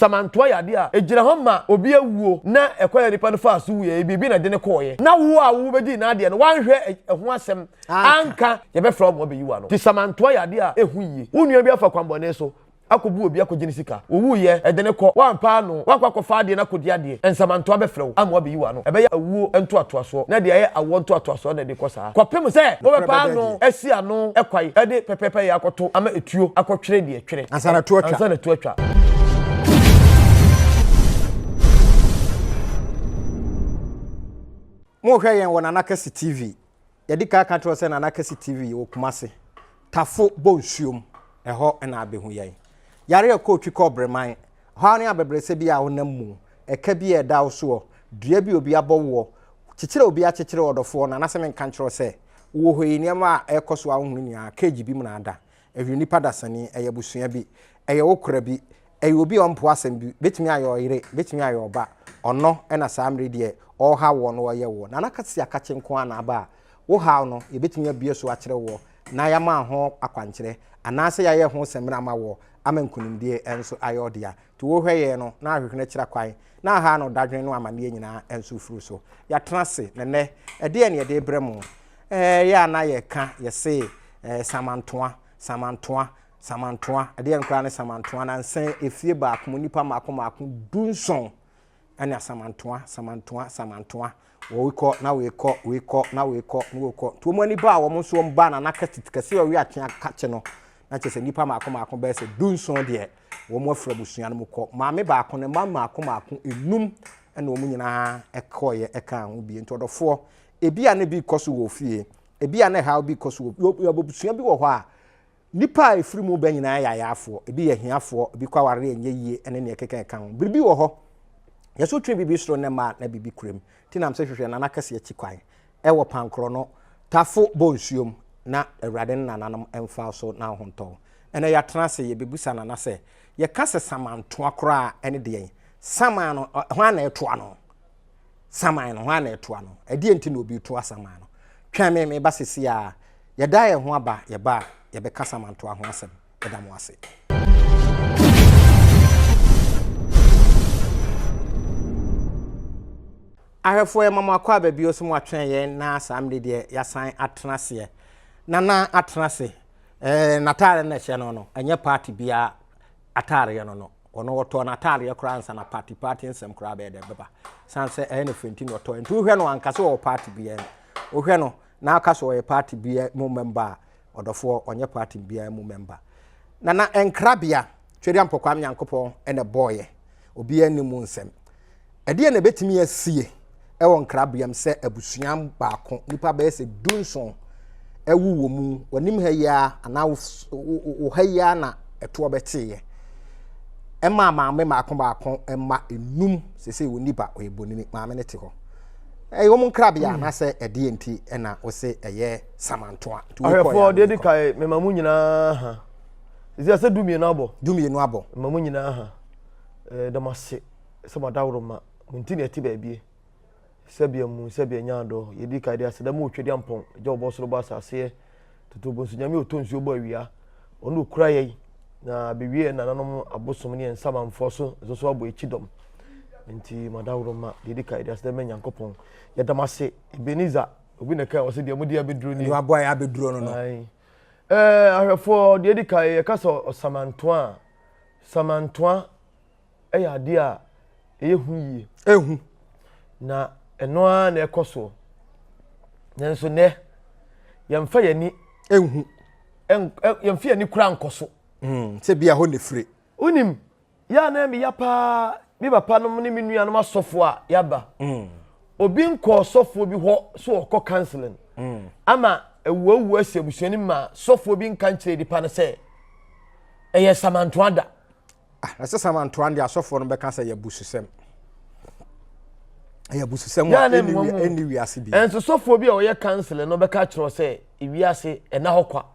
Samantoa yade a egyina hɔ ma obi awuo na ɛkwan a nipa no faa so wuiɛ, biribi na ɛde no kɔeɛ. Na wo a wo bɛdii n'adeɛ no, woanhwɛ ɛho asɛm anka, yɛbɛfrɛ wɔn ma wɔabɛyi wo ano. Nti Samantoa yade a ehu yie. Wo nua bi afa kwammɔne so akɔbu obi akɔgye ne sika. Owuiɛ, ɛde no kɔ. Woampɛ ano, woakɔ akɔfa adeɛ no akɔdi adeɛ, Nsamantoa bɛfrɛ wo ama wɔabɛyi wo ano. Ɛbɛyɛ awuo ntoatoasoɔ, na deɛ ɛyɛ awoɔ ntoatoasoɔ na ɛde kɔ saa kɔpem sɛ wobɛpɛ ano asi ano kwan de pɛpɛɛpɛyɛ akɔto ama etuo akɔtwere deɛ. twere ansa na to atwa ansa na to atwa mo hwɛ yɛn wɔ nana kɛse tv yɛde kaa ka kyerɛ sɛ nana kɛse tv yɛ wɔ kumase tafo bɔ nsuom ɛhɔ na abɛhu yɛn yare a ɛkɔ otwi kɔ ɔbreman hɔ ne abɛbrɛsɛ bi a wonam mu ɛka bi a ɛda wo soɔ dua bi obi abɔ woɔ kyekyerɛ obi akyekyerɛ ɔdɔfoɔ no anasɛ menka nkyerɛ sɛ wowɔ hɔ yi nneɛma a ɛkɔ so a wohunu nyinaa cage bi mu na ada Ɛyɛ onipa dasani, ɛyɛ abusua bi, ɛyɛ wo kora bi, ɛyɛ obi a ɔmpo asɛm bi, bɛtumi ayɛ ɔyere, bɛtumi ayɛ ɔba, ɔno na saa mmere deɛ ɔrehaw woɔ no ɔreyɛ woɔ. Nana Kwasi Akakye nko ara na aba a wo haw no yɛbɛtumi abue so akyerɛ woɔ na yɛama ho akwankyerɛ anaasɛ yɛayɛ ho samina ama woɔ ama nkunimdie nso ayɛ wo dea. Nti wo hwɛ yɛn no na ahwehwene akyira kwan na aha ano dadwene no amaneɛ nyinaa nso firi so. Yɛatena ase na nnɛ ɛdeɛn na yɛde rebrɛ mo? Ɛɛ yɛ a na yɛka yɛse ɛɛ samantoa, samantoa, samantoa, ɛdeɛn koraa ne samantoa nansa yi efie baako mu nipa mmaako mmaako du nson ɛne asamantoa, samantoa, samantoa, wɔwe kɔ na wei kɔ, wei kɔ na wei kɔ na wei kɔ, nti wɔn ani baa wɔn nso wɔn baa nana kɛse kɛse ɔwe akye akakye no na kyerɛ sɛ nipa mmaako mmaako bɛyɛ sɛ du nson deɛ wɔn afiri abusua no mu kɔ, maame baako ne mma mmaako mmaako enum ɛna wɔn nyinaa ɛkɔɔyɛ ɛkaa ho bie nti ɔdɔfoɔ Ebia na bi rekɔ so wɔ ofie. Ebia na haw bi rekɔ so wɔ ofie. Yɛwɔ abusua bi wɔ hɔ a, nnipa a efiri mu ba nyinaa yɛ ayaafoɔ. Ebi yɛ ahiafoɔ, ebi kɔ aware a ɛnyɛ yie, ne nea ɛkeka ɛka ho. Biribi wɔ hɔ, yɛ sɛ wotwe biribi soro nnɛ mma a, na biribi kura mu. Nti na mese hwehwɛ Nana Kɛse akyi kwan. Ɛwɔ Pankorɔno, Tafo Bɔ Nsuo mu, na Awurade ne Nananom mfa wo so na wo ho ntɔ wo. Ɛnnɛ yɛatena ase, yɛbɛbisa Nana sɛ, Yɛka sɛ samantoa koraa a, ɛne deɛn? Saman no, hwan na ɛtoa no? saman no hɔ a na ɛtoa no ɛdeɛ nti na obi toa saman no twɛn me meba sisi a yɛda yɛn ho aba yɛba a yɛbɛka saman toa ho asɛm ɛda mo ase ahwɛfoɔ ɛma mo akɔ a baabi ɔsɛ mo atwɛn yɛn na saa mmiri deɛ yɛasan atena aseɛ na na atena ase ɛɛ n'ataare na ɛhyɛ no no ɛnyɛ paati biara ataareɛ no no Ɔno ɔtɔɔ n'ataadeɛ koraa ansa na party party nsɛm koraa bɛyɛ dɛ bɛba. San sɛ ɛyɛ ne fɛ nti na ɔtɔɔ. Nti wohwɛ no anka sɛ ɔwɔ party biara mu. Wohwɛ no na aka sɛ ɔyɛ party biara mu member a, ɔdɔfoɔ ɔnyɛ party biara mu member. Nana nkrabea, Twedeampɔkwaa Nyankopɔn na ɛbɔɔyɛ. Obiara nni mu nsɛm. Ɛdeɛn na ɛbɛtumi asie wɔ nkrabea mu sɛ abusua baako nnipa bɛyɛ sɛ du nson awu wɔ mu w'anim ha yi ara anaa wo ha yi ara na ɛtoɔ bɛteeɛ ɛmaa maame mmaako baako mma enum sese wɔn nipa ɔyɛ bonini maame no te hɔ ɛyɛ wɔn nkrabea hmm. anasɛ ɛdeɛ nti ɛna ɔsɛ ɛyɛ samantoa nti wɔkɔ yɛ ahwɛfoɔ deɛ di kae mɛma mu nyinaa ha ɛsɛ sɛ dumienu abɔ dumienu abɔ mɛma mu nyinaa ha ɛɛ dɛm ase. sɛ mo adaworo ma mo nti na ɛte baabie. Sɛbea mu, sɛbea nyaa dɔ, yɛdi ka de aseda mu otwa di ampɔn, gya ɔbɔ soro bɔ asaseɛ, toto ɔbɔ nsu nyame ɔtɔ nsuo bɔ awia, ɔno ɔkura yɛi, na bɛwie yɛ nananom abosom ne yɛn nsamanfoɔ so nso so abɔ akyi dɔm. Nti mo adaworo ma, deɛ ɛdi ka de aseda ma Nyankopɔn. Yɛdam ase, Ebenezer, obi na ɛka wɔ sɛ deɛ mo de abɛduro ni. Deɛ waboa yɛ abɛduro no no. Ahwɛfoɔ, deɛ ɛdi ka yɛka sɛ ɔsamantoa, samantoa, yɛ adeɛ a ɛyɛ hu yie. Ehu. Na ɛno ara na ɛkɔ soɔ. Nanso nɛ yɛmfa yɛn ani. Ehu. Yɛmfa yɛn ani kura nkɔ so. Hmm, sɛ bi a hɔ na efiri. Wonim yɛ a na ɛmi ya paa me papa nom ne me nuanom asɔfo a yaba. Hmm. Obi nkɔ ɔsɔfoɔ bi hɔ so ɔkɔ counseling. Hmm. Ama awuawua asi abusua no ma sɔfoɔ bi nka nkyerɛ nipa no sɛ ɛyɛ samantoa da. Ah, na sɛ Samuel ntoa no deɛ asɔfoɔ no bɛka sɛ yɛ abususɛm. Ɛyɛ abususɛm a ɛnni wiase bi. Ɛnso sɔfoɔ bi a ɔyɛ kanselɛ no bɛka kyerɛ sɛ wiase ɛna hɔ kwa.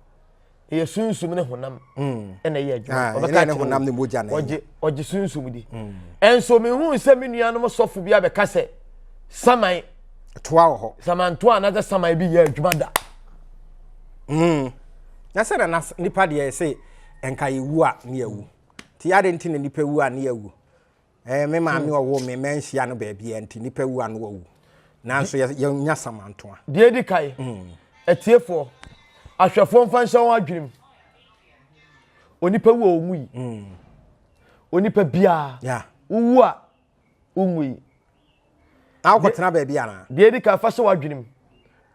Ɛyɛ sunsum ne honam hmm. ɛna ɛyɛ adwuma. Ah, ɔbɛka kyerɛ honam ne mogya na ɛyɛ. Ɔgye sunsum di. Hmm. Ɛnso mehu sɛ me nuanom sɔfo bi abɛka sɛ saman. Toa wɔ hɔ. Samantoa anasɛ saman bi yɛ adwuma da. Hmm. Na sɛ na nipa deɛ sɛ Nka yɛwu a ne yɛwu. Nti ade nti na nipa wu a ne yɛwu. Ɛɛ me maame hmm. ɔwɔ me manhyia no baabi a nti nipa wu a no wawu. Nanso yɛnya samantoa. Deɛ di kae. Hmm. Atiefoɔ, ahwɛfoɔ mfa nhyɛ wɔn adwenem. Onipa wu a ɔnwu yi. Hmm. Onipa biara. Wowu a wonwu yi. Na wokɔtena baabi anaa? Deɛ di kae fa hyɛ w'adwenem.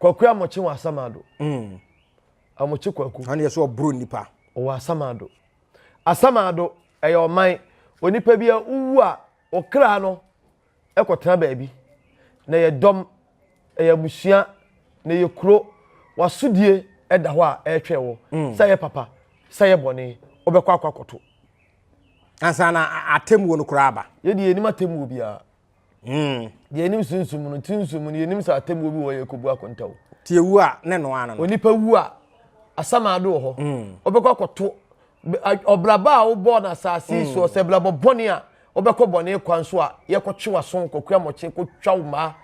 Kwakura mɔkye wɔ asama do. a wɔkye kwaku. Ɛna yɛ so ɔboro nipa. Ɔwɔ asamado. Asamado ɛyɛ ɔman. Onipa bi a wowu a ɔkra no ɛkɔtena baabi. Na ɛyɛ dɔm, ɛyɛ abusua, na ɛyɛ kuro. Wasodie ɛda hɔ a ɛretwɛn wɔ. Sɛ yɛ papa, sɛ yɛ bɔne, wobɛkɔ akɔ akɔto. Ansa na atemmuo no koraa aba. Yɛdeɛ yɛnim atemmuo biara. Hmm. Deɛ anim sunsum no, ti nsum no, yɛnim sɛ atemmuo bi wɔ yɛ kɔbu akonta o. Ti ewu a ne no ano no. Onipa wu a asamaado wɔ hɔ. Ɔbɛkɔ hmm. akɔto ɔbraba a wobɔɔ no asase hmm. soɔ sɛ brabɔ bɔne a wobɛkɔ bɔne kwan so a yɛkɔtwe w'aso kɔkura mɔkye kɔtwa wo mmaa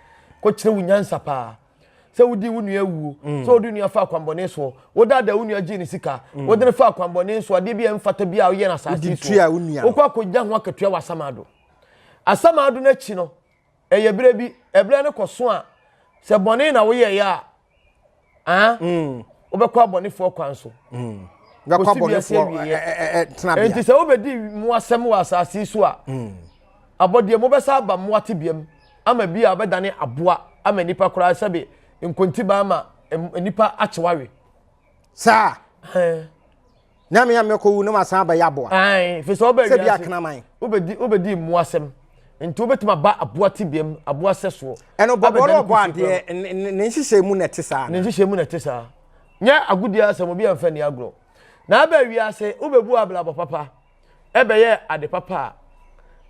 kɔkyerɛ wo nyansa paa sɛ wodi wo nua awuo sɛ wode nua fa akwanbɔne soɔ wodaadaa wo nua gyee ne sika wode no fa akwanbɔne so adeɛ bi a ɛmfata bi a woyɛ no asase soɔ wokɔ akɔnya ho akatua wɔ asamaado Asamado no akyi no, ɛyɛ berɛ bi, ɛberɛ no kɔ so a, sɛ bɔne na woyɛeɛ a, ah, mm. wobɛkɔ abɔnefoɔ kwan so. Mm. Kɔsi wiase awieɛ. Enti sɛ wobɛdi mmoasɛm wɔ asase so a, mm. abɔdeɛ mobɛsa aba mmoa tebeam ama bi a wobɛdane aboa ama nnipa koraa sɛbe nkontiba ama nnipa akyewawe. Saa. Nyame a mɛkɔ wu na masan aba yɛ aboa. Ae, fi sɛ ɔbɛ wiase. Sɛ bi akena man. Wobɛdi wobɛdi mmoa asɛm. Nti wobɛtumi aba aboa tibiam, aboa sɛsoɔ. Ɛno bɔbɔ no ɔbɔ adeɛ, ne nhyehyɛ mu na ɛte saa. Ne nhyehyɛ mu na ɛte saa. Nyɛ agodie asɛm, obi amfa ni agorɔ. Na aba wiase, wobɛbu abrabɔ papa, ɛbɛyɛ ade papa a,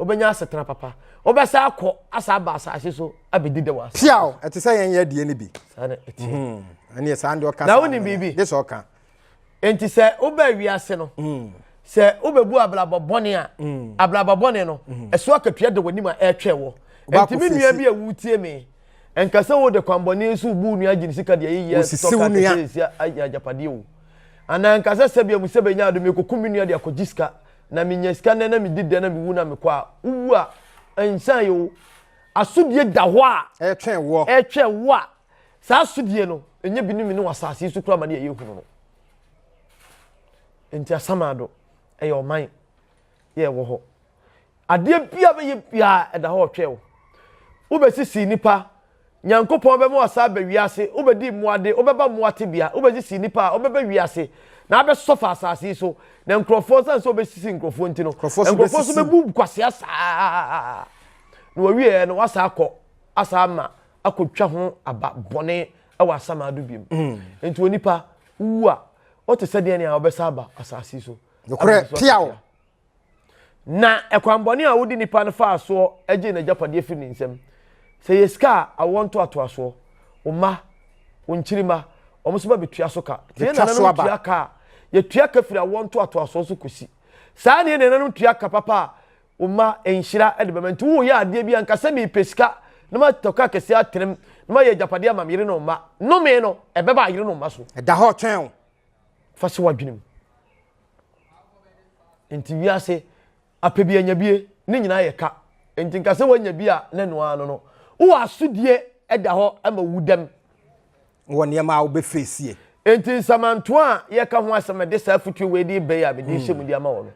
wobɛnya asetena papa. Wobɛsa akɔ, asa aba asase so abɛdi dɛ wɔ asase so. Piaw, ɛte sɛ yɛn yɛ deɛ no bi. Saa na ɛteɛ. Ɛneɛ saa deɛ ɔka saa. Na wonim biribi. Gye sɛ ɔka. nti sɛ wobaa wiase no mm. sɛ wobɛbu abrabɔ bɔne a mm. abrabɔ bɔne no mm. ɛso akatua da w'anim a ɛretwɛ wɔ nti me nua bi a wotie me nka sɛ wode kwanbɔne so bu nua gyene sika deɛ yeyɛ sɔkatɛsɛsia ayɛ agyapadeɛ o anaa nka sɛ sɛbia mu sɛ bɛnya ado mekɔku me nua de akɔgye sika na menya sika nnɛ na medi dɛ na mewu na mekɔ a wowu a nsan yɛ o asodie da hɔ a ɛtwɛn wɔ ɛtwɛn wɔ a Saa asodie no, ɛnyɛ bi ne me ne w'asase yi so kura ma ne ɛyɛ hunu no. Nti asamado, ɛyɛ ɔman, yɛ ɛwɔ hɔ. Adeɛ bia bɛyɛ biaa ɛda hɔ ɔtwɛ wo. Wobɛsisi nipa, nyankopɔn bɛma wasa aba wiase, wobɛdi mmoade, wobɛba mmoa tebea, wobɛsisi nipa a wobɛba wiase, na abɛsɔfa asase yi so, na nkurɔfoɔ nsan sɛ wobɛsisi nkurɔfoɔ nti no, nkurɔfoɔ so bɛbu kwasea saa, na wɔwieɛ no wasa akɔ, asa ama, akɔtwa ho aba bɔne wɔ asamado biom nti onipa wowu a wote sɛ deɛ nea wɔbɛsa aba asase so nokorɛ tiaw na ɛkwanbɔne a wode nipa no faa soɔ agye n'agyapadeɛ firi ne nsam sɛ yɛ sika a awoɔ ntoatoasoɔ wo mma wo nkyirima wɔn nso bɛtua so ka tie nananom tua ka a yɛtua ka firi awoɔ ntoatoasoɔ so kɔsi saa neɛ nananom tua ka papa a wo mma nhyira de bɛma. Nti woyɛ adeɛ bi a, nka sɛ mepɛ sika na matɔ kaa kɛseɛ atenem na mayɛ agyapadeɛ ama me yere ne mma. Nnome no, ɛbɛba ayere ne mma so. Ɛda hɔ twɛn wo. Fa si w'adwene mu. Nti wiase, apɛ bi anya bie, ne nyinaa yɛ ka. Nti nka sɛ woanya bi a, na ɛno ara no no. Wo asodie da hɔ ma wu dɛm. wɔ nneɛma a wobɛfeesie. Enti nsamantoa a yɛka ho asɛm ɛde saa afutuo wei de bɛyɛ a mede rehyɛ mu de ama wɔ no.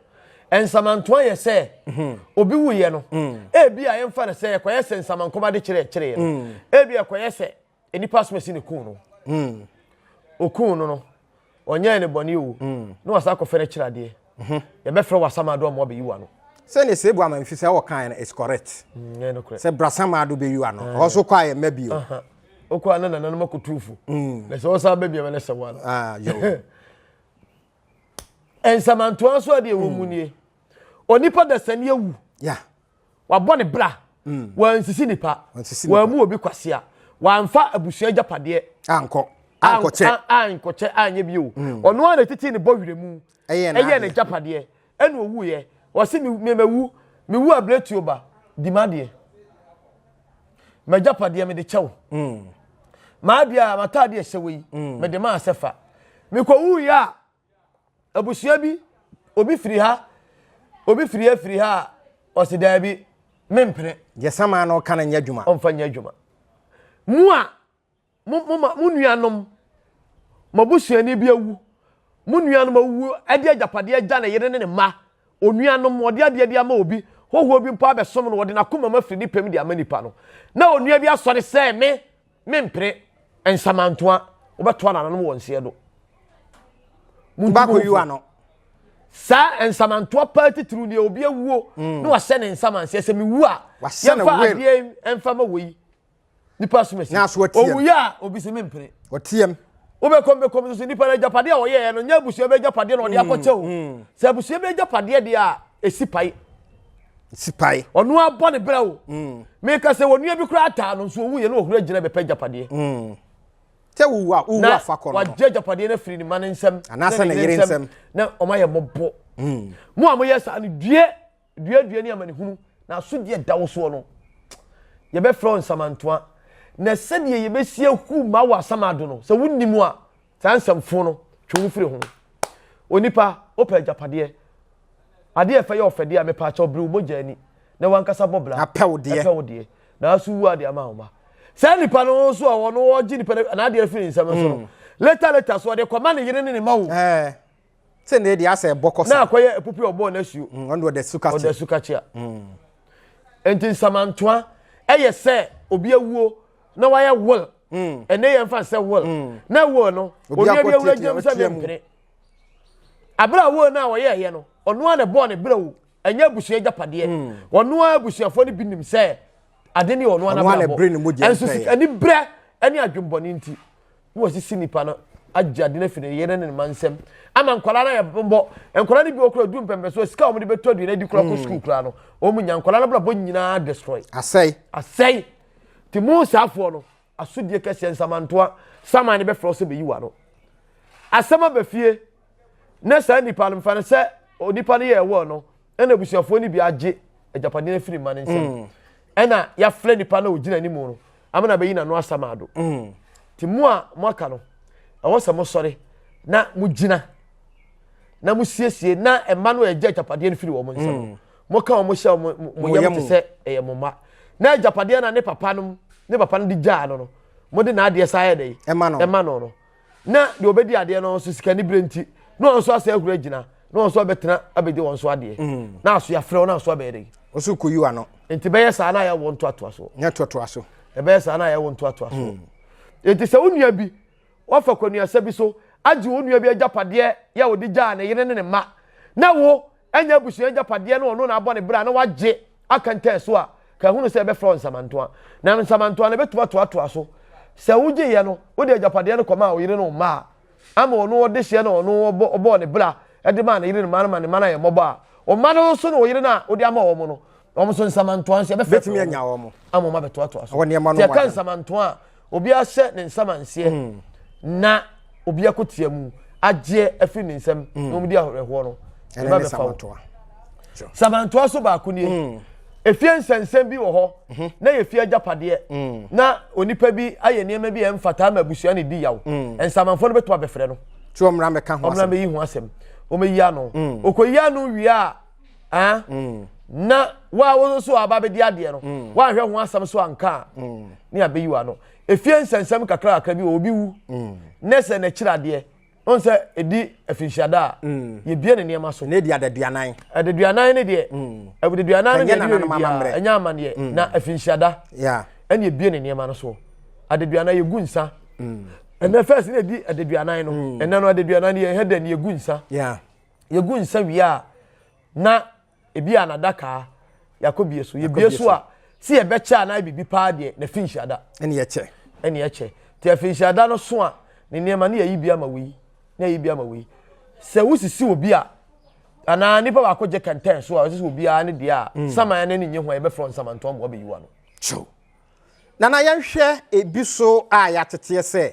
Nsamantoa yɛ sɛ mhm. obi wuyɛ no mm. ebi a yɛmfa no sɛ ɛkɔyɛ sɛ nsamankɔm ade kyerɛ ɛkyerɛ no mm. ebi ɛkɔyɛ sɛ nipa asomasi ne kun no mm. okun no no ɔnyɛɛ ne bɔne o, na wasan akɔfɛre akyiri adeɛ, mhm. yɛbɛfrɛ wɔ asamaado ama wabɛyi wano. sɛ ne sɛ ebu ama mfi sɛ wɔkaeɛ no is correct mm, sɛ brasamaado bɛyi wano eh. ɔhɔ so kɔ a yɛmma bio wokɔ a na nananom akɔtu fo mm. na sɛ wɔsan bɛ biama no sɛ wano ah, nsamantoa nso adeɛ wɔ mu mm. nie onipa dasani awu wabɔ ne bra mm. wansisi nipa wamu obi kwasea wamfa abusua agyapadeɛ ankɔ ankɔkyɛ ankɔkyɛ anyɛ bio mm. ɔno ara na titi ne bɔ werɛ mu ɛyɛ ne agyapadeɛ ɛna owu yɛ wɔsi mɛmɛwu mewu abiretuo ba di ma deɛ mɛgyapadeɛ mede kyɛw mm. maa deɛ mataadeɛ hyɛ wɔ yi mede maa sɛ fa mekɔ wu yɛ a Abusua bi, obi firi ha, obi firi ha firi ha a, ɔsi daabi, mempene. Deɛ samaa no reka no nyɛ adwuma. Ɔmfa nyɛ adwuma. Mo a, mo, mo, ma, mo nuanom, mo abusuani bi awu, mo nuanom awuwu de agyapadeɛ agya ne yere ne ne mma, onuanom, ɔde adeɛ bi ama obi, hɔhoɔ bi mpo abɛsom no, ɔde n'akomam afiri ne pɛm de ama nipa no, na onua bi asɔre sɛ, Me, Me mpere nsamantoa wobɛtoa nananom wɔ nseɛ do. Tobacco yiwa no. Saa nsamantoa paa titiriw deɛ obi awuo mm. na wahyɛ ne nsaman seɛ sɛ mewu a yɛmfa adeɛ ɛmfa ma wei nipa asomasi owuiɛ a obi si me mpere ɔteɛm wobɛkɔm bɛkɔm nso nipa no agyapadeɛ a ɔyɛɛ no nyɛ abusua bɛ agyapadeɛ na ɔde mm, akɔkyɛ o mm. sɛ abusua bɛ agyapadeɛ deɛ a ɛsi pae sipae. ɔno ara bɔ ne bra o mm. meka sɛ wɔnua bi koraa taa no nso ɔwuiɛ na ɔhunu agyina bɛpɛ agyapadeɛ mm. sɛ wowu a wowu afa kɔ no wagye agyapadeɛ no afiri ne ma no nsɛm anaasɛ ne yere nsɛm na ɔma yɛ mmɔbɔ mm. mo a moyɛ saa no due duadua ne amanehunu na asodeɛ da wo soɔ no yɛbɛfrɛ wo nsamantoa na sɛdeɛ yɛbɛsi ahu ma wɔ asamado no sɛ wonim a Saa nsɛm fo no, twe wo ho firi ho. Onipa, wopɛ agyapadeɛ. Adeɛ a ɛfɛ yɛ ɔfɛdeɛ a mepɛ akyɛw bere wo mogya ani na wankasa bɔ bra. Apɛ wo deɛ. Ɛpɛ wo deɛ. Nanso wu adeɛ ama wo mma. Saa nipa no nso a ɔno ɔgye nipa no n'adeɛ firi ne nsam nso no, hmm. later later so ɔde kɔma ne yere ne ne ma wo. Eh. Sɛ nea ɛde asɛ ɛbɔ kɔ sa. Na akɔyɛ epupi a ɔbɔɔ n'asuo. Mm, ɔno ɔda su kakye. Ɔda su kakye a. Mm. Nti nsamantoa ɛyɛ sɛ obi awuo na wayɛ will. Mm. Ɛnɛ yɛn fa sɛ will. Mm. Na will no obi bi awura gyam sɛ ne mpene. Abere a will no a ɔyɛ ɛyɛ no ɔno a na ɛbɔɔ ne berɛ o. Ɛnyɛ abusua agyapadeɛ. Mm. Ɔno a abusuafoɔ no bi nim sɛ ade ne ɔno a na brɛ bɔ. Ɛnso sika ne brɛ ɛne adwembɔne nti. na wɔasisi nipa no agye ade no afi ne yere ne ne ma nsam ama nkwadaa no ayɛ bɔbɔ nkwadaa no bi wɔ kora du mpɛmpɛsoɔ sika a wɔde bɛtɔ aduane adi kora kɔ hmm. sukuu koraa no wɔn nya nkwadaa no brabɔ nyinaa destroy asɛe asɛe te mu saafoɔ no asodie kɛseɛ nsamantoa saman no bɛfrɛ sɛ bɛyi wa no asɛm aba fie na saa nipa no mfa no sɛ onipa no yɛ ɛwɔ no ɛna abusuafoɔ no bi agye agyapadeɛ no afiri mma no nsam mm. ɛna yɛafrɛ nipa na ɔgyina anim no ama na bɛyi n'ano asam ado mm. nti mo a moaka no ɛwɔ sɛ mosɔre na mogyina na mosiesie na mma no a ɛgye agyapadeɛ no firi wɔn nsam mm. moka wɔn hyɛ wɔn yam te sɛ ɛyɛ mo mma na agyapadeɛ na ne papa no ne papa no de gyaa no no mode n'adeɛ saa yɛ dɛ ɛma no no Na deɛ ɔbɛdi adeɛ no nso sika ne berɛ nti na wɔn nso asɛ ahuru agyina na wɔn nso abɛtena abɛdi wɔn nso adeɛ mm. na aso yɛafrɛ wɔn nso abɛyɛ dɛ ɔso kɔyi wa no nti bɛyɛ saa na ayɛ wɔn toatoa so nyɛ toatoa so ɛbɛyɛ saa na ayɛ wɔn toatoa so mm. nti sɛ wo nua bi wafa kwanuasa bi so agye wo nua bi agyapadeɛ yɛ wɔde gyaa ne yere ne ne mma na wo anya abusua agyapadeɛ na ɔno na abɔ ne bra na wagye aka ntɛɛ so a ka hunu sɛ ɛbɛfrɛ wo nsamantoa na nsamantoa no bɛtumi atoatoa so sɛ wogyeeɛ no wode agyapadeɛ no kɔmaa wo yere ne wo mma a ama ɔno ɔde hyeɛ na ɔno ɔbɔ ɔbɔɔ ne bra de maa ne yere ne mma no ma ne mma no ayɛ mmɔbɔ a wo mma no nso ne wo yere no a wode ama wɔn no wɔn nso nsamantoa nso ɛbɛfrɛ bɛtumi anya wɔn ama wɔn abɛtoatoa so sɛ ɛka nsamantoa a Obi ahyɛ ne nsa manseɛ na obi ako tia mu agyeɛ afiri ne nsam na wɔn di ahorɛhoɔ no ne ba bɛfa wo samantoa so baako nie hmm. efie nsɛnsɛm bi wɔ hɔ hmm. na yɛ fie agyapadeɛ hmm. na onipa bi ayɛ nneɛma bi a ɛmfata ama abusua ne di yaw nsamanfoɔ no bɛtuma bɛfrɛ no tí wɔn mìíràn bɛka ho asɛm wɔn mìíràn bɛyi ho asɛm wɔn ayi ano okɔ yi ano wie a. Ah, mm. na wa wo nso aba bɛdi adeɛ no mm. woanhwɛ ho asɛm so anka a mm. ne abɛyi wa no ɛfie nsɛnsɛm kakra kakra bi wɔ obi wu mm. ne sɛ n'akyiri adeɛ ɔn sɛ ɛdi afinhyiada a mm. yɛbie ne nneɛma so ne ɛdi adaduanan adaduanan ne deɛ mm. adaduanan ne deɛ ɛnyɛ ɛnyɛ amaneɛ mm. na afinhyiada ɛne ɛbie ne nneɛma no so adaduanan yɛgu nsa ɛnɛ fɛs ne ɛdi adaduanan no ɛnɛ no adaduanan yɛhɛ dɛ ne yɛgu nsa yɛgu nsa wie a na ebi a n'adakaa yɛakɔbie so yɛbie so a sɛ yɛbɛkyɛ anaa biribi paa deɛ na fi nhyiada ɛne yɛkyɛ ɛne yɛkyɛ nti afi nhyiada no so a ne nneɛma ne yɛyi bi ama wei ne yɛyi bi ama wei sɛ wosisi obi a anaa nipa baako gye kɛntɛn so a ɔsisi obiara ne deɛ a mm. saman ne ne nye ho a yɛbɛfrɛ nsamantɔn ma ɔbɛyiwa no Nana yɛnhwɛ ebi so a yɛateteɛ sɛ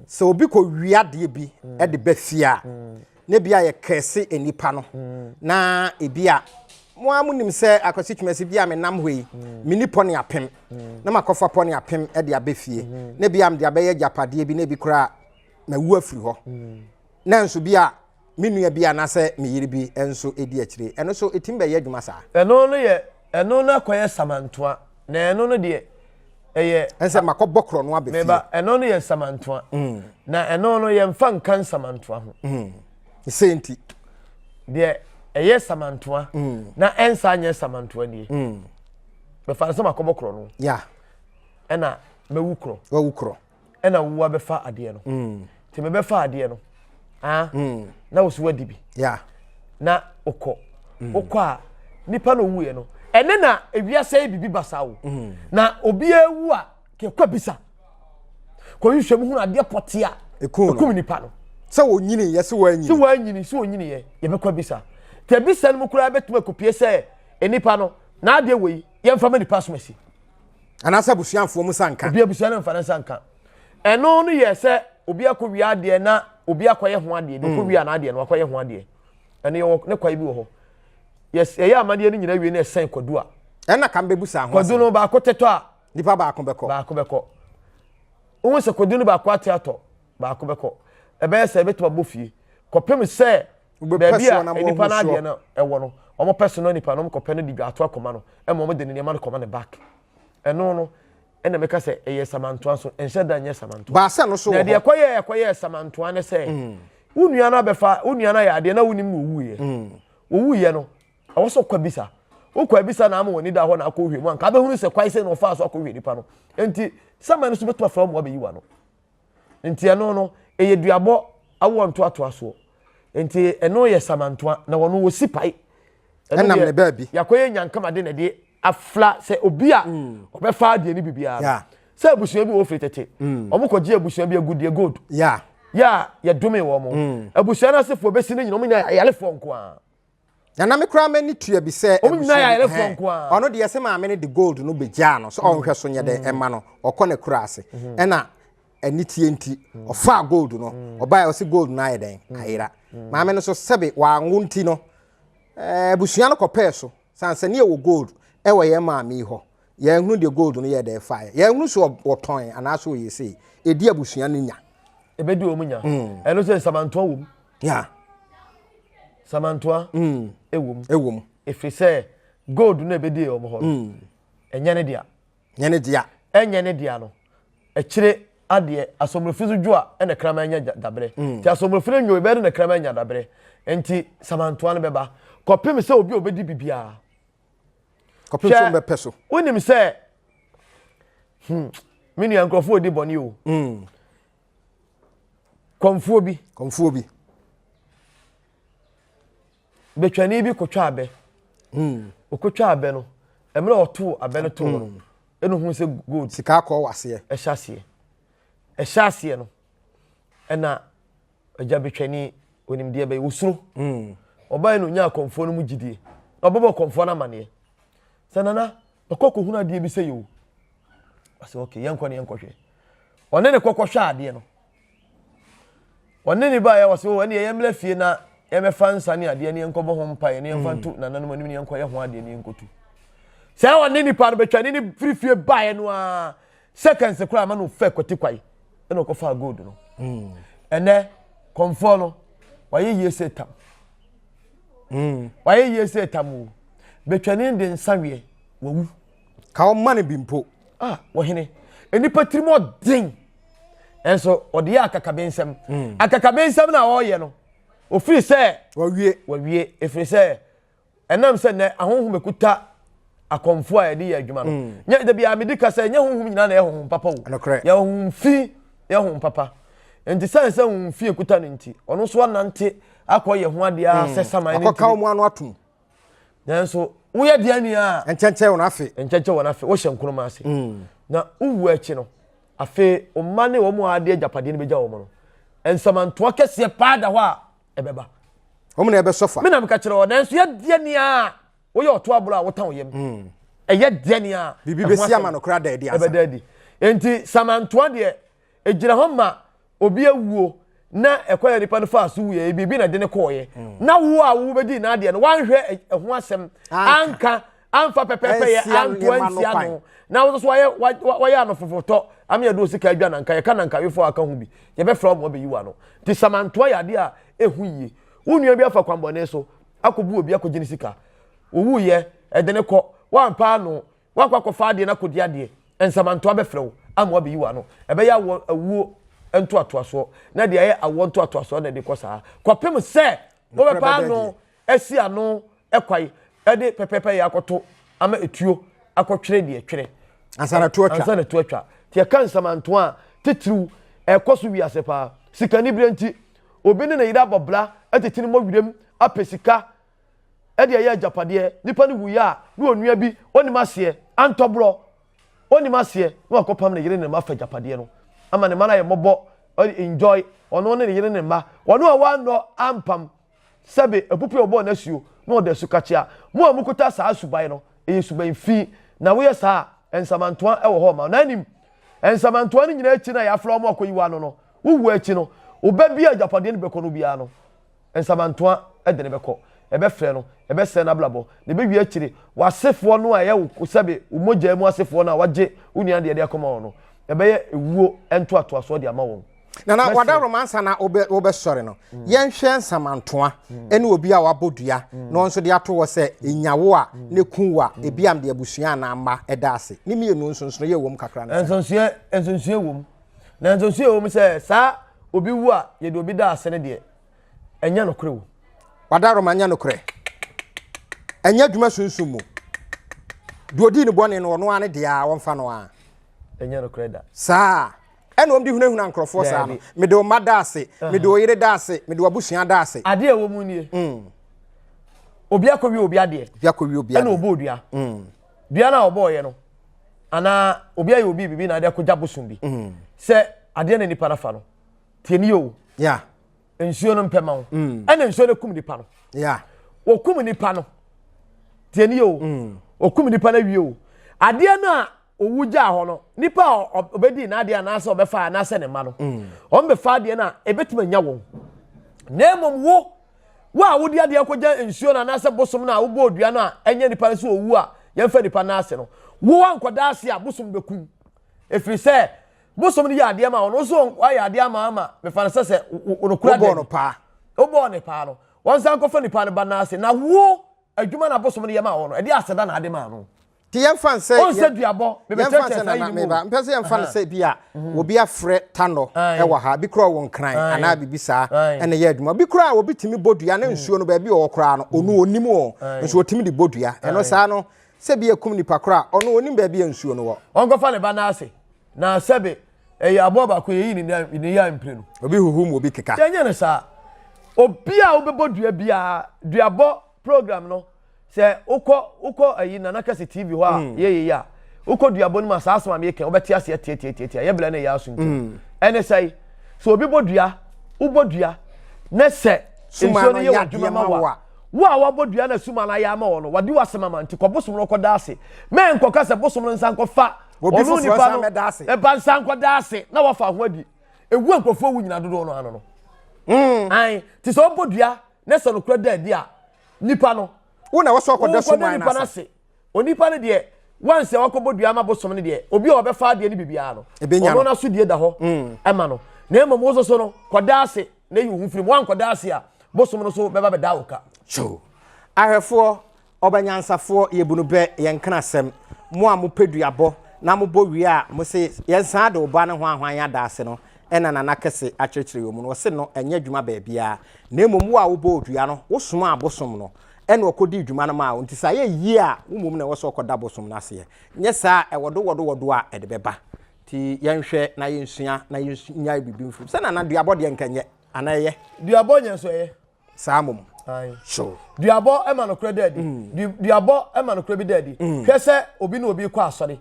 sɛ obi kɔ wia adeɛ bi de ba fie a na ebi a yɛ kɛse nnipa no na ebi a mo a monim sɛ akwasi twumasi bi a menam hɔ yi meni pɔne apem na makɔfa pɔne apem de abɛ fie na ebi a mede abɛyɛ agyapadeɛ bi na ebi koraa mawu afiri hɔ nanso bi a me nua bi anaasɛ me yere bi nso di akyire. Ɛno nso, ɛtumi bɛyɛ adwuma saa. Ɛno no yɛ, ɛno no akɔyɛ samantoa, na ɛno no deɛ, ɛyɛ. Ɛne sɛ, makɔbɔ korɔno aba fie. Meba, ɛno no yɛ samantoa, na ɛno no, yɛmfa nka nsamantoa ho. Ne sɛ nti. Deɛ ɛyɛ samantoa, na ɛnsan nyɛ samantoa nie. Bɛfa no sɛ makɔbɔ korɔno. Ya. Ɛna mɛwu korɔ. Wawu korɔ. ɛna wo abɛfa adeɛ no mm. nti mebɛfa adeɛ no ah, mm. na wo so wadi bi na wokɔ mm. wokɔ a nipa na owuiɛ no ɛne na ewiase yi bibi basa wo na obi ewu a kekɔ bisa kɔyi hwɛ mu hunu adeɛ pɔte a ekum nipa no sɛ wɔnyini yɛ sɛ wɔanyini sɛ wɔanyini sɛ wɔnyini yɛ yɛbɛkɔ bisa te bisa no mu koraa bɛtumi akopie sɛ nipa no n'adeɛ wɔ yi yɛmfa ma nipa asomasi anaasɛ abusuafoɔ mu nsa nka. obi abusua no mfa ne nsa nka ɛno no yɛ sɛ obi akɔ wia adeɛ na obi akɔyɛ ho adeɛ bi ɔkɔ wia n'adeɛ no wakɔyɛ ho adeɛ ɛno yɛwɔ ne kwae bi wɔ hɔ yɛyɛ amadeɛ no nyinaa wie na ɛsɛn kwadu a ɛna kam bɛbu saa ho kwadu no baako tetɔ a nipa baako bɛkɔ baako bɛkɔ wohu sɛ kwadu no baako ate atɔ baako bɛkɔ ɛbɛyɛ sɛ ɛbɛtumi abɔ fie kɔpem sɛ baabi a nipa no adeɛ no ɛwɔ no wɔn pɛ so no nipa no wɔn kɔpɛ no de dwa ato akoma no ɛma wɔn de ne nneɛma no kɔma ne back ɛno no ɛna mɛka sɛ ɛyɛ samantoa so nhyɛ da nyɛ samantoa baasa no so wɔ hɔ na deɛ ɛkɔyɛ ɛkɔyɛ samantoa no sɛ mm. wo nua no abɛfa wo nua no ayɛ adeɛ na wo nim na owu yɛ mm. owu yɛ no ɛwɔ so kɔ bisa wokɔ abisa na ama wɔn da hɔ na akɔ hwɛ mu anka abɛhunu sɛ kwae sɛ na ɔfa so akɔ hwɛ nipa no nti saman no so bɛtuma fura mu abɛyi wa no. Nti ɛno no ɛyɛ duabɔ awoɔ ntoatoa soɔ. Nti ɛno yɛ samantoa na wɔn wɔ si pae. Ɛnam ne baabi. Yakɔ yɛ nyankama de na ɛde afla sɛ obi a mm. ɔbɛfa adeɛ ne bibiara. Yeah. Sɛ abusua bi wɔ firi tete. Mm. Wɔn kɔ gye abusua bi agudeɛ gold. Yeah. Yɛ a yɛdome wɔn. Mm. Abusua no asefoɔ bɛsi no nyina wɔn nyina ayalefoɔ nko ara. Na na me koraa m'ani tua bi sɛ Wɔn nyinaa yɛ abusua bi- ayarefo hɛn. nko ara. ɔno deɛ sɛ maame no de gold no bɛgyaa no sɛ ɔnhwɛ so nyɛ dɛ ɛma no ɔkɔ n'akura ase ɛna aniteɛ nti ɔfaa gold no ɔbaeɛ ɔse gold no ayɛ dɛn ayera maame no so sɛbe wanwo nti no eh, abusua no kɔpɛɛ so sane sɛ ne yɛwɔ gold ɛwɔ yɛn maame yi hɔ yɛanhunu deɛ gold no yɛɛ dɛ faeɛ yɛanhunu so ɔ- ɔtɔn anaasɛ ɔyɛ sei ɛdi abusua no nya Ebedi wɔn nya. Ɛno sɛ nsamantoa wom. ya samantoa mm. ɛwom ɛwom ɛfiri sɛ gold no ɛbɛdie wɔn hɔ no mm. ɛnyɛ ne dea nyɛ ne dea ɛnyɛ ne dea no akyire adeɛ asɔmmerɛfi so dwo a ɛna kraman nya dabrɛ mm. nti asɔmmerɛfi no nwo ɛbɛyɛ no na kraman nya dabrɛ nti samantoa no bɛba kɔpem sɛ obi a ɔbɛdi biribiara kɔpem sɛ ɔbɛpɛ so wonim sɛ hmm, me nua nkurɔfoɔ ɔdi bɔne o hmm. Kɔmfoɔ bi. Kɔmfoɔ bi. Betwani bi kɔtwa abɛ. Hmm. Ɔkɔtwa abɛ no, mmerɛ ɔtoo abɛ no too no, hmm. ɛna ohun sɛ gold. Sika akɔ wɔ aseɛ. Ɛhyɛ aseɛ. Ɛhyɛ aseɛ no, ɛna agya betwani onimdeɛ bɛyɛ osuro. Hmm. Ɔbaa yi na onyaa kɔmfoɔ no mu gyidie. Ɔbɛbɔ kɔmfoɔ no amaneɛ. Sɛ nana. Ɔkɔ kɔhunu adeɛ bi sɛ yɛ o. Ɔsɛ ok yɛnkɔ ne yɛnkɔhwɛ. Ɔne ne kɔkɔhwɛ adeɛ no. Ɔne ne baeɛ ɔsɛ o ɛneɛ yɛmmra fie na yɛbɛfa nsa ne adeɛ ne yɛnkɔbɔ ho mpaeɛ ne yɛmfa nto nananom anim ne yɛnkɔyɛ ho adeɛ ne yɛnkɔtu. Sɛ ɔne nipa no bɛtwa ne ne firi fie baeɛ no a seconds koraa ma na ɔfɛ kwati kwae ɛna ɔkɔfaa gold no hmm. ɛnɛ kɔmfoɔ no wayɛ yie sɛ tam hmm. wayɛ yie sɛ tam o betwani de nsa weɛ wawu ka ɔma no bi mpo a ah, wɔhene nnipa tirim ɔden ɛnso ɔde yɛ akakabensɛm hmm. akakabensɛm na ɔreyɛ no ofiri sɛ wawie wawie efiri sɛ ɛnam sɛ nnɛ ahonhom ɛkuta akɔmfoɔ a yɛde yɛ adwuma no mm. nyɛ da biara medi ka sɛ nyɛ honhom nyinaa na yɛ honhom papa o yɛ honhom fi yɛ honhom papa nti sɛn sɛ honhom fi ɛkuta no nti ɔno nso anante akɔ yɛ ho adeɛ mm. sɛ saman no akɔka wɔn ano atom nanso woyɛ deɛ ni a nkyɛnkyɛn wɔn afe nkyɛnkyɛn wɔn afe wohyɛ nkoroma ase mm. na wowu akyi no afei ɔma ne wɔn a ade agyapadeɛ no bɛgya wɔn no nsamantoa kɛseɛ paa da hɔ a ɛbɛba. wɔn na ɛbɛsɔ fa. mi na mi ka kyerɛ wɔ nanso yɛ deɛ ni a woyɛ ɔto aburo a wotan yam hmm. ɛyɛ deɛ ni a. biribi bɛsi ama no kora daadi asa ɛbɛda adi nti samantoa deɛ egyina hɔ ma obi awuo na ɛkɔ yɛ nipa no fa so wuyɛ biribi na de ne kɔɔyɛ hmm. na wo a wo bɛdi n'adeɛ no wanhwɛ ɛho asɛm anka amfa pɛpɛpɛyɛ anto antia no na wo so wayɛ wayɛ ano fofotɔ ame yɛde osika adwa na nka yɛka na nka wefo aka ho bi yɛbɛfrɛ ɔmo ɔbɛyi wa no nti samantoa yɛ adeɛ a ɛho yie wo nua bi afa kwambɔne so akɔbu obi akɔgye ne sika owu yɛ ɛde ne kɔ wampa ano wakɔ akɔfa adeɛ no akɔdi adeɛ nsamantoa bɛfrɛ wo ama wabɛyi wa no ɛbɛyɛ awɔ awuo ntoatoasoɔ na deɛ ɛyɛ awɔ ntoatoasoɔ na ɛde kɔ saa kɔpem sɛ wobɛpa ano asi ano kwae de pɛpɛɛpɛ yɛ akɔto ama etuo akɔtwere deɛ ɛtwere ansa na tuo atwa. Nti yɛka nsamantoa a, titiriw ɛkɔ so wiase paa. Sikanibere nti, obi ne ne yere abɔ bra tete no mmɔ wiram apɛ sika de ayɛ agyapadeɛ. Nipa no wuiɛ a, na onua bi, onnim aseɛ, antɔ borɔ, onnim aseɛ, na wakɔpam ne yere ne ne mma afa agyapadeɛ no ama ne mma no ayɛ mmɔbɔ, enjoy, ɔno ne ne yere ne ne mma, wɔn a wɔannɔ ampam. Sɛbe apupe a ɔbɔɔ n'asuo na ɔde asu kakyea. Mo a mokuta saa suban no, ɛyɛ suban fi, na woyɛ saa a, nsamantoa wɔ hɔ ma wo. Na nim, nsamantoa no nyinaa akyi no a yɛafrɛ wɔn akɔyi wɔn ano no, wo wuo akyi no, wo ba bi a agyapadeɛ no bɛkɔ no biara no, nsamantoa de no bɛkɔ. Ɛbɛfrɛ no, ɛbɛsɛe n'abrabɔ, na ɛbɛwie akyire w'asefoɔ no a ɛyɛ wo, sɛbe wo mogya mu asefoɔ no a wɔagye wo nua deɛ de akɔma wɔn no, ɛbɛyɛ ewuo ntoatoasoɔ de ama wɔn. na na wada roma ansa na wobɛsɔre no mm. yɛnhwɛ nsamantoa mm. ɛne obi a wabɔ dua mm. na ɔnso de ato hɔ sɛ ɛnyawo a ne ku a ebi am de abusua anaa mma ɛda ase ne mmienu nsonsono yɛ wɔm kakra no nsonsoɛ nsonsoɛ wɔm na nsonsoɛ wɔm sɛ saa obi wu a yɛde obi da ase no deɛ ɛnyɛ nokorɛ wo wada roma nyɛ nokorɛ ɛnyɛ adwuma sunsum mu deɛ ɔdii ne bɔne no ɔno a ne deɛ a wɔmfa no a ɛnyɛ nokorɛ da saa Ɛna wɔn de hunahuna nkorɔfoɔ saa no. Mede wo mma da ase, mede wo yere da ase, mede w'abusua da ase. Adeɛ a ɛwɔ mu nie. Mm. Obi akɔwie obi adeɛ. Obi akɔwie obi adeɛ. Ɛna ɔbɔɔ dua. Mm. Dua no a ɔbɔɔyɛ no, anaa obi ayɛ obi biribi na ade akɔgya bosom bi. Mm. Sɛ adeɛ na nipa no afa no, tie ni o. Yeah. Nsuo no mpɛ ma wo. Mm. Ɛna nsuo no kum nipa no. Yeah. Wɔkum nipa no. Tie ni o. Mm. Wɔkum nipa no awie o. Adeɛ no a owu gyaa hɔ no nipa a ɔbɛdii n'adeɛ anaasɛ ɔbɛfa anaasɛ ne mma no mm. wɔn bɛfa adeɛ no a ɛbɛtumi anya wɔn na mmom wo wo a wode adeɛ akɔgya nsuo no anaasɛ bosom no a wobɔ odua no a ɛnyɛ nipa no sɛ owu a yɛmfa nipa no ase no wo ankɔda ase a bosom bɛkum ɛfiri sɛ bosom no yɛ adeɛ ma wɔn wo so wayɛ adeɛ ama ama mefa no sɛ sɛ wɔnokura deɛ no paa wobɔɔ ne paa no wɔn nsa nkɔfa nipa no ba no ase na wo adwuma na bosom no yɛ ma wɔn no ɛde aseda na ade ma no Ti yɛn fan sɛ. Ɔn sɛ duabɔ. Yɛn fan sɛ nana meba. Mpɛ sɛ yɛn fan sɛ bi a mhm. obi afrɛ tanɔ ɛwɔ ha bi kura wɔ nkran anaa bibi saa ɛna yɛ adwuma bi kura obi tumi bɔ dua ne mhm. nsuo no baabi ɔwɔ koraa no onu mhm. onim wɔ nso otumi de bɔ dua ɛno saa no sɛ bi ekum nipa kura ɔno onim baabi yɛ nsuo no wɔ. Ɔnkɔfa ne ba n'ase na sɛbi ɛyɛ aboɔ baako yɛ yi ne ne yɛ mpire no. Obi huhu mu obi keka. Yɛnyɛ ne saa obi a wobɛbɔ dua biara duabɔ. program no sɛ wokɔ wokɔ ayi nana kɛse tv hɔ a hmm. yɛyɛ yi a wokɔ duabɔ no mu a saa asɛm a meyɛ kɛn wobɛte aseɛ tiatiatiatia yɛ bla no ɛyɛ aso nti hmm. ɛne sɛe sɛ obi bɔ dua wobɔ dua ne sɛ nsuo no yɛ wɔ adwuma ma wo a wo a wabɔ dua na suma no ayɛ ama wɔ no wade wasɛm ama nti kɔ bosom no kɔda ase mɛ nkɔka sɛ bosom no nsa nkɔfa ɔno nipa no ɛba nsa nkɔda ase na wafa ho adi ɛwu nkurɔfoɔ wu nyina dodoɔ no ano no hmm. an te sɛ ɔbɔ dua ne sɛ nokorɛ da adi a nipa no wo na wɔsɔ akɔda so man nipa no ase onipa no deɛ wansi a wakɔbɔ dua ama bosom no deɛ obi a ɔbɛfa adeɛ no biribiara no ɔno no aso die da hɔ mm. ɛma no na mmom wo soso no kɔda ase na yi wo ho firi mu wankɔda ase a bosom no so bɛba bɛda wo ka ahwɛfoɔ Ɔbanyansafoɔ, yɛbu no bɛ, yɛn nkrasɛm. Mo a mopɛ duabɔ na mobɔ wie a mo se yɛn san ade oba ne hoahoa yɛn adaase no na Nana kɛse akyerɛkyerɛ yɛn mu no, ɔse no nyɛ adwuma baabiara na mmom wo a wobɔɔ dua no wo somaa bosom no na ɔkɔdii dwuma no maa wo nti sɛ ayɛ yie a wo mmom na ɛwɔ sɛ ɔkɔda bosom no aseɛ nyɛ saa a ɛwɔ dowɔdowɔdo a ɛde bɛba. Nti yɛnhwɛ na yɛnsua na yɛnyae biribi mfiri mu sɛ Nana duabɔ deɛ nka ɛnyɛ anaa ɛyɛ? Duabɔ nyɛ nso ɛyɛ. saa mmom. duabɔ ma nokorɛ da adi mm. duabɔ ma nokorɛ bi da adi mm. hwɛ sɛ obi ne obi kɔ asɔre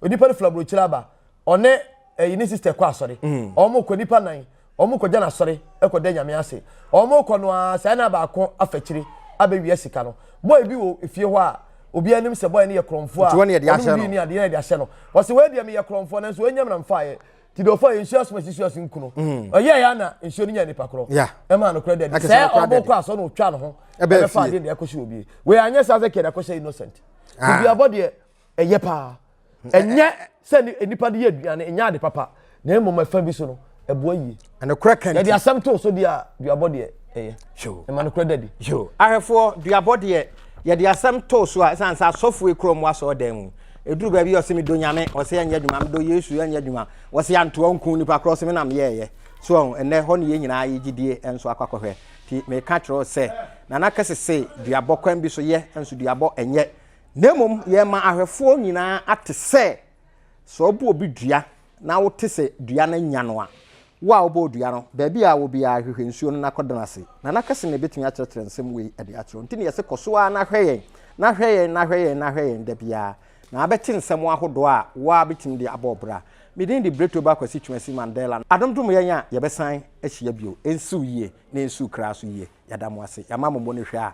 onipa no fila burokyire aba ɔne ɛyi eh, ne sista kɔ asɔre mm. wɔn kɔ nipa nan wɔn kɔ gya na asɔre kɔ dɛ nyame ase wɔn kɔ no aa saa na baako afɛkyire abɛwia sika no bɔɔl bi wɔ efie hɔ a obi anim sɛ bɔyɛ no yɛ korɔmfoɔ a ɔno bi ni adeɛ yɛ de ahyɛ no wɔsi wɔyɛ deɛ mi yɛ korɔmfoɔ nanso wɔnyɛ mi na nfa yɛ ti dɛ ɔfa nsuo asoma si suaso nku no ɔyɛ ya na nsuo no nya nipa korɔ ɛma no korɛ dɛ sɛ ɔbɔ kɔ asɔ na ɔtwa ne ho ɛbɛfa ade na ɛkɔhyɛ obi wei anyɛ saa sɛ kɛda kɔhyɛ innocent ah. bibi abɔ deɛ ɛyɛ paa ɛnyɛ sɛ nipa de yɛ aduane ɛnyɛ ade papa na mmom ɛfa bi so no ɛboa yie yɛde asɛm to so deɛ a duabɔ deɛ ɛyɛ ɛma no korɛ da bi. Ahwɛfoɔ, duabɔ deɛ yɛde asɛm too so a ɛsiane sɛ asɔfoɔ ekura wɔn asɔɔ dan mu ɛduru baabi ɔse medɔ nyame ɔse ɛnyɛ adwuma medɔ yesu ɛnyɛ adwuma wɔse antoa nku nipa korɔ ɔse me na meyɛɛyɛ so ɔho ɛnɛ hɔ ne yɛn nyinaa yɛ gyidie nso akɔ akɔhwɛ ti meka kyerɛ sɛ nana kɛse se duabɔ kwan bi so yɛ nso duabɔ ɛnyɛ na mmom yɛma ahwɛfoɔ nyinaa ate sɛ Sɛ wɔbɔ obi dua na wote sɛ dua no anya no a, wo a wobɔɔ dua no, baabi a wɔ biara, hwehwɛ nsuo no na kɔda no ase. Nana kɛse na ɛbɛtumi akyerɛkyerɛ nsɛm wei de akyerɛ wo. Nti na yɛse kɔ so ara na hwɛ yɛn, na hwɛ yɛn, na hwɛ yɛn, na hwɛ yɛn da biara, na abɛte nsɛm ahodoɔ a wo ara bɛtumi de abɔ wo bra. Me din de Bretoba Kwasi Twumasi Mandela. Adom dom yɛn a yɛbɛsan ahyia bio. Ɛnsiw yie na ɛnsiw kra so yie. Yɛda mo ase. Yɛama mo mmɔ no hwɛ a